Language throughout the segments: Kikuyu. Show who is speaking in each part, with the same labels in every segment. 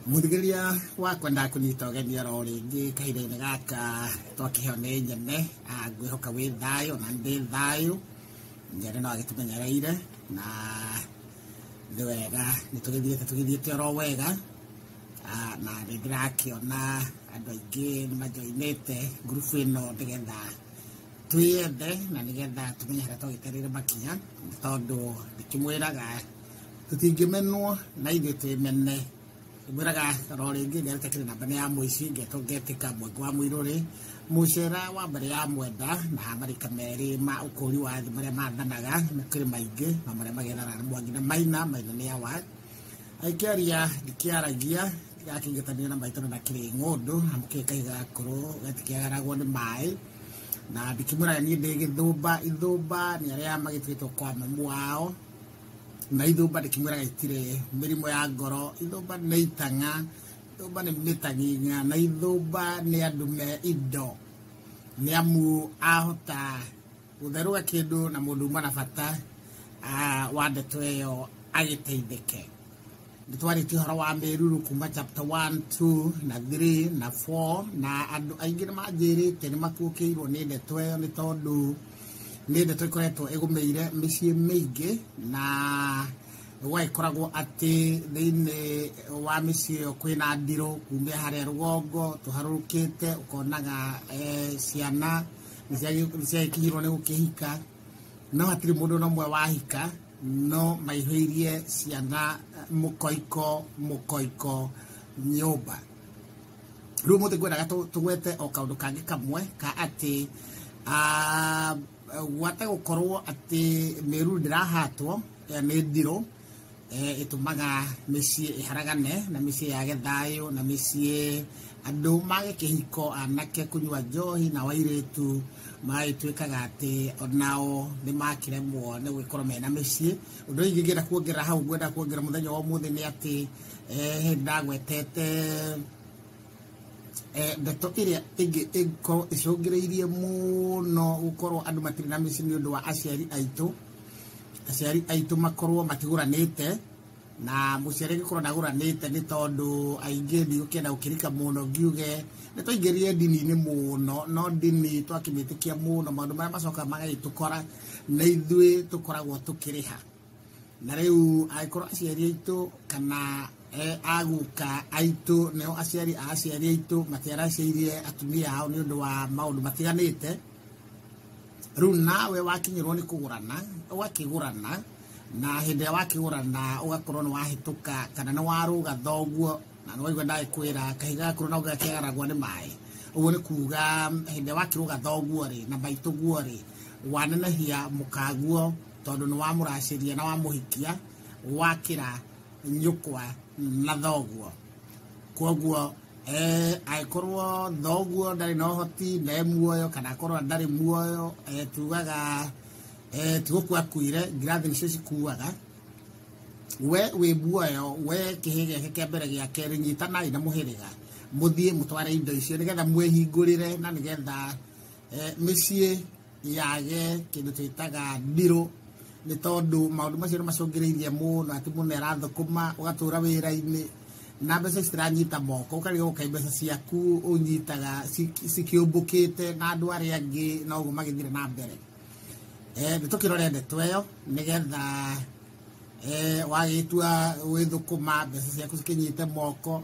Speaker 1: mũthigĩria wakwa ndakũnyita ũgeni oro rĩngĩ kahinda-inĩ gaka twakĩheo nĩ nyene ah, ngwĩhoka wĩ thayũ na ndĩ thayũ nyene no agĩtũmenyereire na nĩ wega nĩ tũgĩthiĩte tũgĩthiĩte oro wega Ah, na nĩ ndĩrakĩona andũ aingĩ nĩ majoinĩte ngurubu ĩno nĩgetha twĩyende na nĩgetha tũmenyere tũgĩterere makinya tondũ ndĩkĩmwĩraga tũtingĩmenwo na ithuĩ twĩmene ngwĩraga ro rĩngĩ ngerĩte kĩrĩ namba nĩ ya mũici ngetwo ngetĩka mweke wa mũirũrĩ mũcera wa mbere ya mwenda na marika merĩ ma ũkũri wa thĩ marĩa mathanaga nĩ kĩrĩ maingĩ na marĩa magethana nĩ mwangi na maina maina nĩ awa aikĩaria ndikĩaragia gakĩngetanĩra na maitano na kĩrĩ ng'ũndũ amu kĩrĩ kahiũ gakũrũ gatikĩagaragwo nĩ maĩ na ndikĩmwĩra niĩ ndĩ gĩthũmba ithũmba nĩ arĩa magĩtuĩtwo kwa mamu wao na ithũmba ndĩkĩmwĩra gĩtirĩ mĩrimũ ya ngoro ithũmba nĩ itang'a ithũmba nĩ mĩtang'ing'a na ithũmba nĩ andũ me indo nĩ amu ahota Gũtherũga kĩndũ na mũndũ uma na bata ah, wa ndeto ĩyo agĩteithĩke. Nĩ twarĩtie ũhoro wa mĩruru kuma chapter 1, 2 na 3 na 4 na andũ aingĩ nĩ manjĩrĩte nĩ makuũkĩirwo nĩ ndeto ĩyo nĩ tondũ nĩ ndeto ĩkoretwo ĩgũmĩire mĩciĩ mĩingĩ na gwagĩkoragwo atĩ thĩinĩ wa mĩciĩ ĩyo kwĩna ndirũ kumia harĩa rũgongo tũharũrũkĩte ũkonaga eh, ciana nĩciagĩkinyirwo nĩ gũkĩhika no hatirĩ mũndũ na ũmwe wahika no maihũirie ciana eh, mũkoiko mũkoiko nyũmba rĩu mũthĩ ngwendaga tũgwete o kaũndũ kangĩ kamwe ka atĩ ah, gwate gũkorwo atĩ mĩruru ndĩrahatwo eh, nĩ ndirũ ĩtũmaga mĩciĩ ĩharagane na mĩciĩ yage thayũ na mĩciĩ andũ mage kĩhiko anake kũnyua njohi na wairĩtu magagĩtuĩkaga atĩ onao nĩ makĩremwo nĩ gũgĩkorwo mena mĩciĩ ũndũ ũyũ ingĩenda kuongerera hau ngwenda kuongerera mũthenya wa ũmũthĩ nĩ atĩ eh, hĩndĩ ndagwetete eh, ndeto ĩrĩa ĩngĩ ĩngĩkorwo ĩcũngĩrĩirie mũno gũkorwo andũ matirĩ na mĩciĩ nĩ ũndũ wa aciari aitũ aciari aitũ makorwo matigũranĩte na mũciari angĩkorwo ndagũranĩte nĩ tondũ aingĩ ndigũkĩenda gũkĩrika mũno ngiuge nĩ twaingĩrire ndini-inĩ mũno no ndini twakĩmĩtĩkia mũno maũndũ marĩa macokaga magagĩtũkora na ithuĩ tũkoragwo tũkĩrĩha na rĩu angĩkorwo aciari aitũ kana eh, agũka aitũ nĩo aciari a aciari aitũ matiaracĩirie atumia ao nĩ ũndũ wa maũndũ matiganĩte rĩu nawe wakinyĩrwo nĩ kũgũrana ũgakĩgũrana na hĩndĩ ĩrĩa wakĩgũrana ũgakorwo nĩ wahĩtũka kana nĩ warũga thoguo na nĩ waigua ndagĩkwĩra kahiga gakorwo no gakĩgaragwo nĩ maĩ ũguo nĩ kuga hĩndĩ ĩrĩa wakĩrũga thoguo rĩ na maitũguo rĩ wanenehia mũkaguo tondũ nĩ wamũracĩria na wamũhikia wakĩra nyũkwa na thoguo koguo angĩkorwo noguo ndarĩ na ũhoti na e muoyo kana akorwo ndarĩ muoyo tugaga tigũkua akuire ngirathi nĩcio cikuaga we wĩ muoyo we kĩhĩ gĩake kĩa mbere gĩa kerĩ nyitanai na mũhĩrĩga mũthiĩ mũtware indo icio nĩgetha mwĩhingũrĩre na nĩgetha mĩciĩ yage kindu twitaga ndiro nä tondå maå macio nä macångä rä irie må no atä må no arathå ma å gatå ra wä ra-inä na mbeca ciranyita moko ukarega gukai mbeca ciaku unyitaga cikiumbukite na andu ari angi na uguo magithire na mbere eh ni tukirore ndeto iyo nigetha eh wagitua withukuma mbeca ciaku cikinyite moko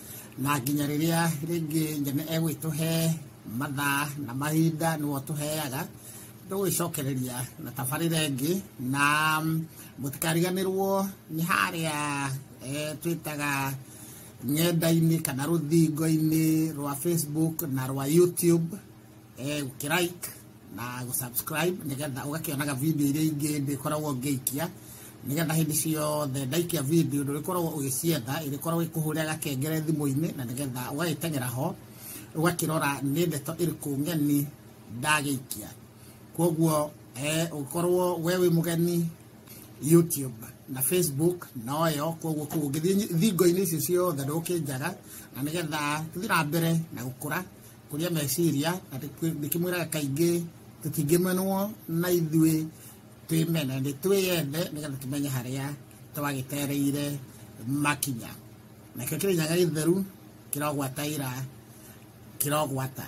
Speaker 1: na nginya rĩrĩa rĩngĩ nyene egwĩtũhe mathaa na mahinda nĩwe ũtũheaga ndũgwĩcokereria na tabarĩra ĩngĩ na mũtikariganĩrwo nĩ harĩa eh, twĩtaga ng'enda-inĩ kana rũthingo-inĩ rwa facebook na rwa youtube eh, ũkĩrike na gũsubscribe nĩgetha ũgakĩonaga video iria ingĩ ndĩkoragwo ngĩikia nĩgetha hĩndĩ ciothe ndaikia video ndũrĩkoragwo ũgĩcietha ĩrĩkoragwo ĩkũhũrĩra gakengere thimũ-inĩ na nĩgetha ũgagĩteng'era ho ũgakĩrora nĩ ndeto ĩrĩkũ ng'eni ndagĩikia kwoguo eh, ũkorwo we wĩ mũgeni youtube na facebook noyo kwoguo kũu ũngĩthiĩ thingo-inĩ icio ciothe ndũkĩnjaga na nĩgetha tũthiĩ na mbere na gũkũra kũrĩa meciria na ndĩkĩmwĩraga kaingĩ tũtingĩmenwo na ithuĩ twĩmene nĩ twĩyende nĩgetha tũmenye harĩa twagĩtereire makinya nakĩo kĩrĩnyaga gĩtheru kĩrogwataira kĩrogwata